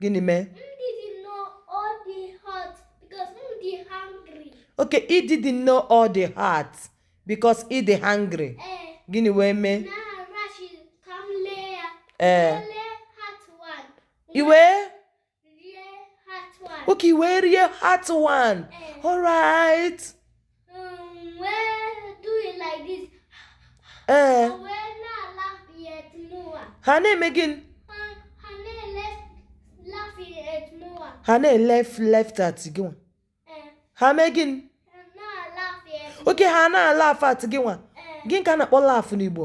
gịnị mee okay ị didn't know ọ dị hot because ị dị hungry eh. gịnị wee mee ee eh. i wee okay i wee rie hot one eh. alright ee eh. ha na-eme gịnị ha na-laughed at gị nwa eh. ha mee gịnị okay ha na-alaugh at gị nwa eh. gịnị ka a na-akpọ laugh n'Igbo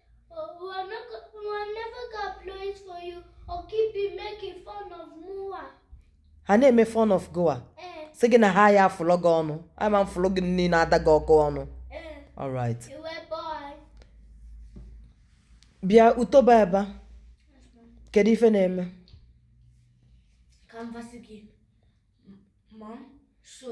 ha na-eme fun of gị nwa eh. sị gị na ha ya-afụlụ gị ọnụ a ma-afụlụ gị nni na-ada gị ọkụ ọnụ eh. alright bịa Utoba ebe kedu ife na-eme so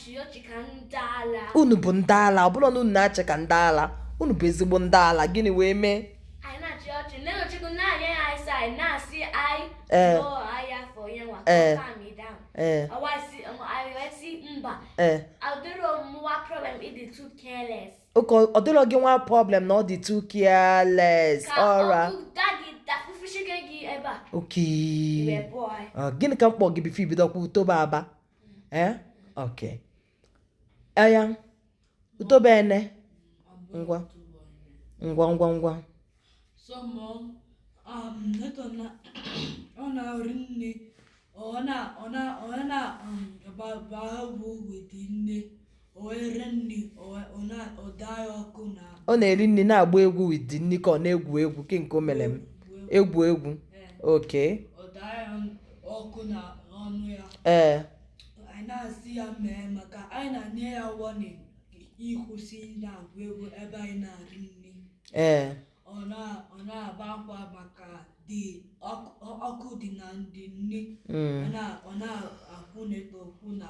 unu bụ ndị ala ọ bụrụ na unu na-achị ka ndị ala unu bụ ezigbo ndị ala gịnị wee mee ee ee ee okay ọ dịrọ gị nwa problem na ọ dị too careless alright okay gịnị ka m kpọ gị before i bido kwu Utoba aba ee eh? ok aya utobe ene ngwa ngwa ngwa ngwa ọ na-arị nne ọ na-agba ahụ bụ wete nne ọ na-eri nri na-agba egwu with the nri ka ọ na-egwu egwu ke nke o mere m egwu egwu oke ee ee ọ na-agba akwa maka dị ọkụ dị na ndị nne mm. ọ na-akwụ na-ekpo okwu na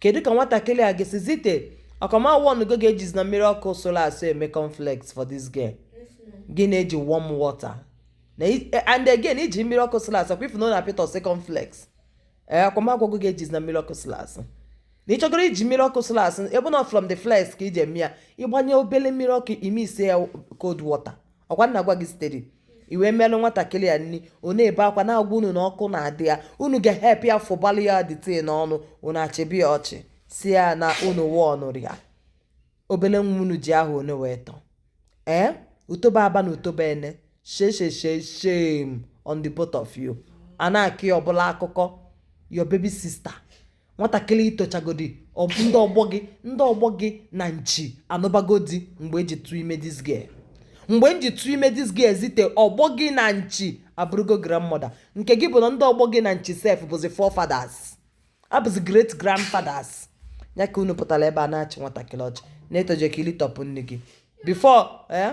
kedu ka nwatakịrị a ga-esi zite ọkwa m awarngo gị ejizina mmiri ọkụ sụlụ asụ eme cornflakes for this girl gị na-eji warm water and again i ji mmiri ọkụ sụlụ asụ kwa ị fụ na ọ na-apịtọsị cornflakes ee ọkwa m agwago gị ejizina mmiri ọkụ sụlụ asụ na ị chọgoro iji mmiri ọkụ sụlụ asụ ebe na from the flakes ka i ji eme ya ị gbanye obele mmiri ọkụ i mixie ya cold water ọ kwa m na-agwa gị steady i wee melụ nwatakịrị a nni ọ na-ebe akwa na-agwa unu na ọkụ na-adị ya unu ga-ehelp ya fụbalụ ya dịte n'ọnụ unu achịba ya ọchị sị ya na unu wụọ ọnụrụ ya obele nwa unu ji ahọ one wee tọ ee eh? utoba aba na utoba ene she she she shame on the both of you a na-akọ ya ọ bụlụ akụkọ your baby sister nwatakịrị i tochagodi ndị ọgbọ gị ndị ọgbọ gị na nchi anụbago di mgbe m ji tụọ ime this girl mgbe m ji tụọ ime this girl zite ọgbọ gị na nchi abụrụgo grandmother nke gị bụ na ndị ọgbọ gị na nchi sef bụzi forefathers abụzi great grandfathers ya ka unu pụtara ebe a na-achị nwatakịrị ọchị na-etoje ka i litọpụ nni gị before eh?